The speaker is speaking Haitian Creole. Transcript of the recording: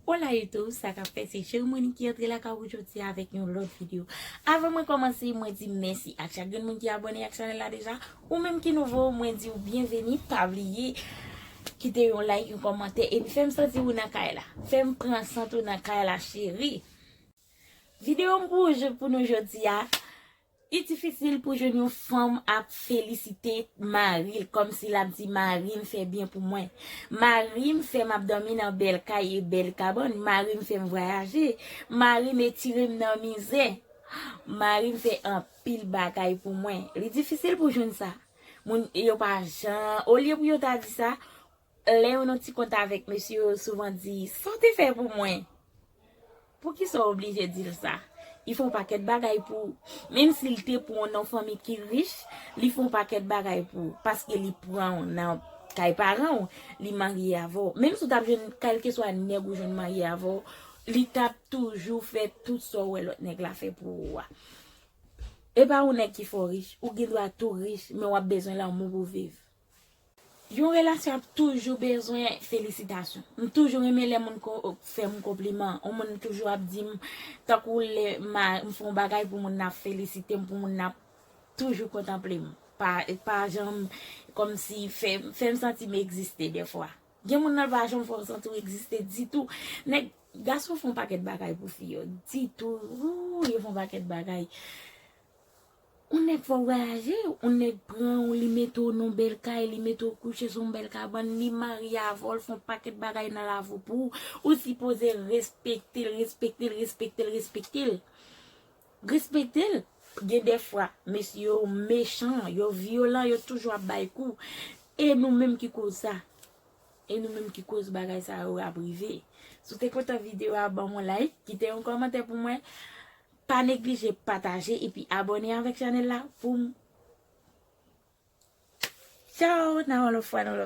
Hola YouTube, sa kap fè se Cheri Monique ki antre lakay ou jodi a avèk yon lòt video. Avan mwen kòmanse, mwen di mèsi ak chak grenn moun ki abòne ak chanèl la deja. Ou menm ki nouvo, mwen di ou byenveni, pa bliye kite yon like, yon kòmantè epi fèm santi ou nan kay la. Fèm pran sant ou nan kay la cheri. Video m pou nou jodi a, Li difisil pou jwenn yon fanm ap felisite maril kòmsi lap di marim fè byen pou mwen marim fèm ap dòmi nan bèl kay e bèl kabann marim fèm vwayaje marim etirem nan mizè marim fè anpil bagay pou mwen li difisil pou jwenn sa moun yo pa jan olye pou yo ta di sa Lè yo nan ti kont avèk mesye yo souvan di, sa w te fè pou mwen? Poukisa w oblije di l sa? Li fè yon pakèt bagay pou ou. Menm si l te pran w nan yon fanmi ki rich, li fè yon pakèt bagay pou ou. Paske li pran w nan kay paran w, li marye avè w. Menm si w t ap jwenn kèlkeswa nèg ou jwenn marye avè w, li t ap toujou fè tout sa w wè lòt nèg la fè pou ou a. E pa yon nèg ki fè w rich. Ou gen dwa tou rich, men w ap bezwen lanmou pou w viv. Yon relasyon ap toujou bezwen felisitasyon. M toujou renmen lè moun fè m konpliman. Yon moun toujou ap di m tankou lè m fè yon bagay pou moun nan ap felisite m, pou moun nan ap toujou kontanple m. Pa janm kòmsi fè m santi m egziste dèfwa. Gen moun nan l pa janm fè w santi w egziste ditou. Nèg, gason fè yon pakèt bagay pou fi yo. Ditou, wouuyy yo fè yon pakèt bagay. On nèg fò vwayaje, on nèg pran w li mete w non bèl kay, li mete w kouche sou yon bèl kabann, li marye avè w, l fè yon pakèt bagay nan lavi w pou ou, ou sipoze respekte l, respekte l, respekte l, respekte l. Respekte l. Gen dè fwa, mesye yo mechan, yo vyolan, yo toujou ap bay kou. E nou menm ki koz sa? E nou menm ki koz bagay sa yo ap rive? Si w te kontan videyo a, ban m yon like, kite yon kòmantè pou mwen. Pa neglije pataje epi abone avèk chanèl la poum Tchao nan yon lòt fwa nan yon lòt.